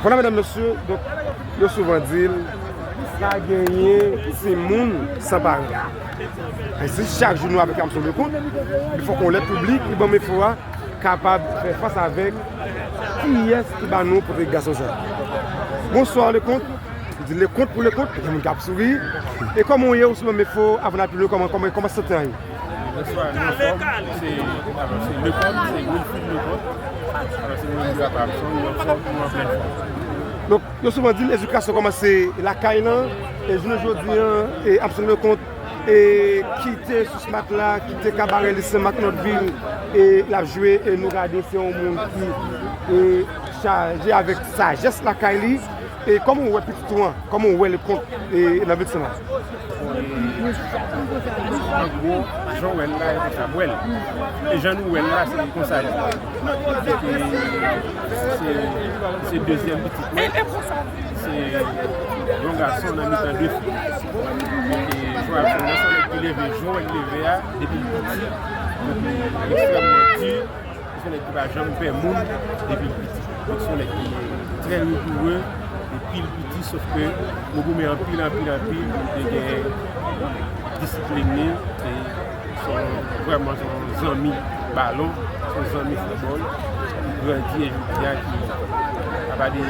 Voilà mesdames messieurs donc yo souvan di l pa genyen timoun san paran. E si chak jou nou aplikam sou le kont, li fòk on lè piblik ki banm enfo a kapab fè fas avèk kiyès ki ban nou pwofil gason sa. Bonsoir le kont, m di le kont pou le kont, gen moun kap souri, e kòman ou ye ou si banm enfo avan n al pi lwen kòman kòman sante a ye? Bonswa, nou anfòm, se Lepòm, se Wilfrid Lepòm, alò se mwen menm ki ap pale avèk ou, nou anfòm, nou an plèn fòm. Donk, yo souvan di ledikasyon kòmanse lakay lan, e jounen jodi an, Absol Leconte kite sous matla, kite kabarè li Sen Mak Nòt Vil, e l ap jwe, e nou gade se yon moun ki chaje avèk sajès lakay li. E kòman ou wè pitit ou an? Kòman ou wè li kont nan vètsin lan? An gwo, jan w wè l la, e konsa m wè l. E jan nou wè l la, se konsa li ye. Paske se dezyèm pitit mwen. Se yon gason nan mitan de fi. E jwa l fè, nan sou lèk li leve, jan w wè l leve a, depi l piti, li ekstrèmman di. Son nèg ki pa janm pè moun depi l piti. Donk son nèg ki trè rigoure depi l piti sof ke nou goumen anpil anpil anpil pou li te gen disiplin li e son vrèman son zanmi balon, son zanmi foutbòl ki grandi e jodi a ki apa de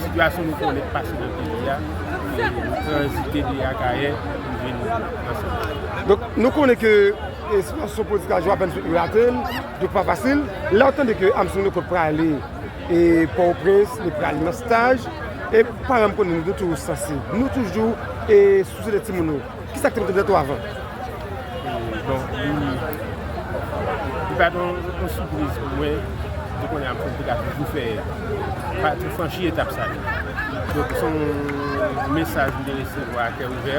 sitiyasyon nou konnen k pase nan peyi a e nou tranzite de Akayè pou vin nan Santo Domingo. Donk nou konnen ke E si yon so politik la jwe apèn sou Irathe l, li pa fasil. Lè w tande ke Armstrong Lecourt prale e Pòtoprens, li prale nan staj, e paran m konnen nou te toujou sansib. Nou toujou e souse de timoun nou. Ki sa k te mete m nan twavan? E bon, li, li pa t yon yon sipriz pou mwen de konnen Armstrong te ka toujou fè, pa tou franchi etap sa yo. Donk se yon mesaj m te resevwa a kè ouvè.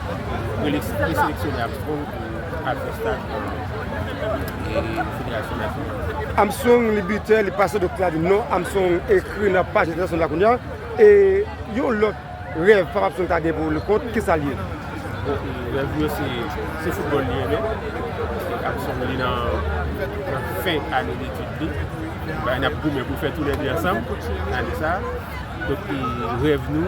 preseleksyone ap strong pou al fè staj nan federasyon nasyonal. Armstrong li bitè, li pase dòk la di non, Armstrong ekri nan paj entènasyonal la kounye a, e yon lòt rèv Papa Armstrong ta gen pou Leconte, kisa l ye? Rèv li yo se foutbòl li renmen, paske Armstrong li nan fen ane detid li, n ap goumen pou fè tou lè 2 ansanm ane sa a, donk rèv nou.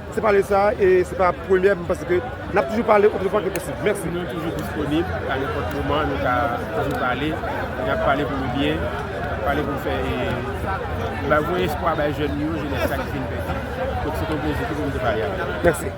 Se pale sa e se pa premye m panse ke n ap toujou pale otan de fwa ke posib. Mèsi. Nou toujou disponib a nenpòt moman nou ka toujou pale. N ap pale pou byen, n ap pale pou fè bay voye espwa bay jèn yo, jenès la ki fin pèdi. Donk se te yon plezi pou m te pale avè w. Mèsi.